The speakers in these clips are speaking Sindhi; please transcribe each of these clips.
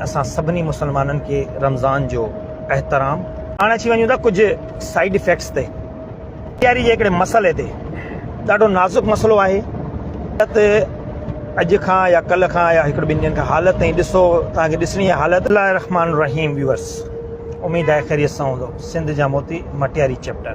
اسان سڀني مسلمانن کي رمضان جو احترام. هاڻي اچي وڃون ٿا ڪجهه سائيڊ افيڪٽس تي. تياري جي هڪڙي مسئلي تي. ڏاڍو نازڪ مسئلو آهي. حالت اڄ کان يا ڪلهه کان يا هڪڙي ٻن ڏينهن کان حالت تائين ڏسو توهان کي ڏسڻي آهي حالت. بسم الله الرحمٰن الرحيم ويورس اميد آهي خيريت سان هوندؤ سنڌ جا موتي مٽياري چيپٽر.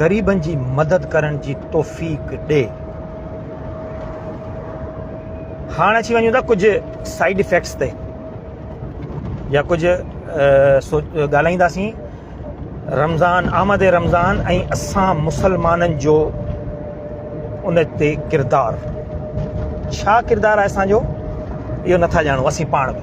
غريبن جي مدد ڪرڻ جي توفيق ڏي. هاڻ اچي وڃون ٿا ڪجهه سائيڊ افيڪٽس تي يا ڪجهه ڳالهائينداسين رمضان آمد رمضان ۽ اسان مسلمانن جو ان تي ڪردار ڇا ڪردار آهي اسان جو اهو نٿا ڄاڻو اسين پاڻ به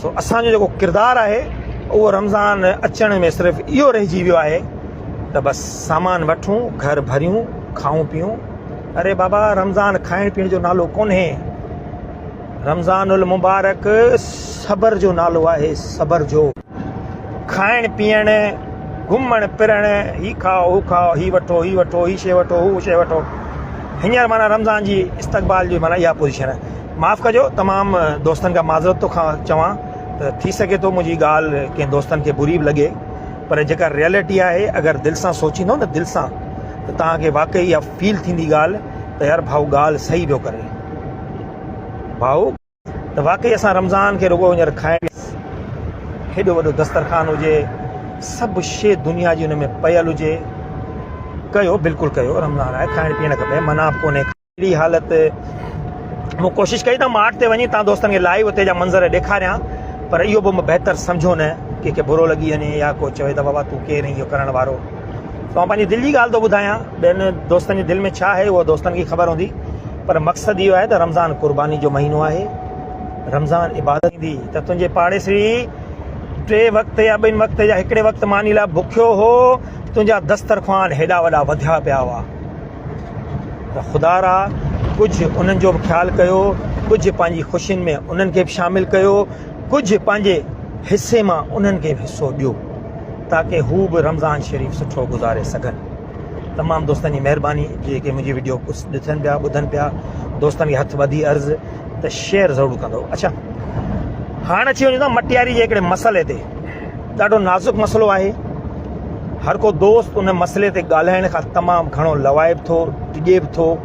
سو اسان جو جيڪو ڪردار آهي اهو رمضان اچڻ ۾ صرف اهو رهجي ويو آهي ته بس سامان وٺون گهر ڀريون کائون پيئون اري بابا رمضان کائڻ پيئڻ جو نالو ڪونهي رمضان المبارڪ صبر جو نالو آهي صبر جو کائڻ پيئڻ، گهمڻ ڦرڻ، هي کاء هو کاء، هي وٺو هي وٺو، هي شيء وٺو هو شيء وٺو، هينئر معنيٰ رمضان جي استقبال جي معنيٰ اها پوزيشن آهي. معاف ڪجو تمام دوستن کان معذرت ٿو کان چوان ته ٿي سگهي ٿو منهنجي ڳالهه ڪنهن دوستن کي بري به لڳي پر جيڪا ريئلٽي آهي اگر دل سان سوچيندو نه دل سان ته توهان کي واقعي اها فيل ٿيندي ڳالهه ته يار ڀائو ڳالهه صحيح پيو ڪري ڀائو ته واقعي اسان رمضان کي رڳو هينئر کائڻ جي لاء ڪيو هيڏو وڏو دسترخوان هجي سڀ شي دنيا جي ان ۾ پيل هجي ڪيو بلڪل ڪيو رمضان آهي کائڻ پيئڻ کپي منع به ڪونهي اهڙي حالت مون ڪوشش ڪئي ته مارٽ تي وڃي تان دوستن کي لائيو اتي جا منظر ڏيکاريان پر اهو به بهتر سمجهيو نه ڪنهن کي برو لڳي وڃي يا ڪو چوي ته بابا تون ڪير آهين اهو ڪرڻ وارو توهان پنهنجي دل جي ڳالهه ٿو ٻڌايان ٻين دوستن جي دل ۾ ڇا آهي اهو دوستن کي خبر هوندي پر مقصد اهو آهي ته رمضان قرباني جو مهينو آهي رمضان عبادت ٿيندي ته تنهنجي پاڙيسري ٽي وقت يا ٻن وقت يا هڪڙي وقت ماني لاء بکيو هو تنهنجا دسترخوان هيڏا وڏا وڌيا پيا هئا ته خدا را ڪجهه انهن جو به خيال ڪيو ڪجهه پنهنجي خوشين ۾ انهن کي به شامل ڪيو ڪجهه پنهنجي حصي مان انهن کي به حصو ڏيو تاڪه هو به رمضان شريف سٺو گذاري سگهن تمام دوستن جي مهرباني جيڪي منهنجي وڊيو ڪجهه ڏسن پيا ٻڌن پيا دوستن کي هٿ ٻڌي عرض ته شيئر ضرور ڪندو اڇا هاڻ اچي وڃون ٿا مٽياري جي هڪڙي مسئلي تي ڏاڍو نازڪ مسئلو آهي هر ڪو دوست ان مسئلي تي ڳالهائڻ کان تمام گهڻو لوائب ٿو ڊڄي به ٿو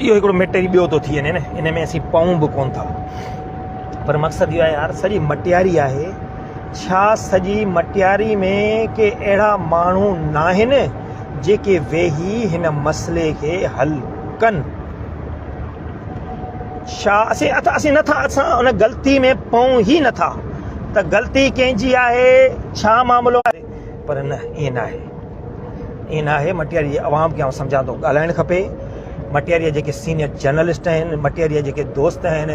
اهو هڪڙو مٽيري ٻيو ٿو ٿي وڃي نه ان ۾ اسين پئون به ڪون ٿا پر مقصد اهو آهي يار سڄي مٽياري آهي ڇا سڄي مٽياري ۾ ڪي اهڙا ماڻهو ناهن جيڪي ويهي هن مسئلي کي حل ڪن ڇا اسين اسين نٿا اسان ان غلطي ۾ پئون ئي نٿا ته غلطي ڪنهن جي آهي ڇا معاملو آهي پر نه ائين ناهي ائين نه آهي مٽياري جي عوام کي آئون سمجهان ٿو ڳالهائڻ کپي مٽياري جا جيڪي سينيئر جرنلسٽ آهن مٽياري جا جيڪي دوست آهن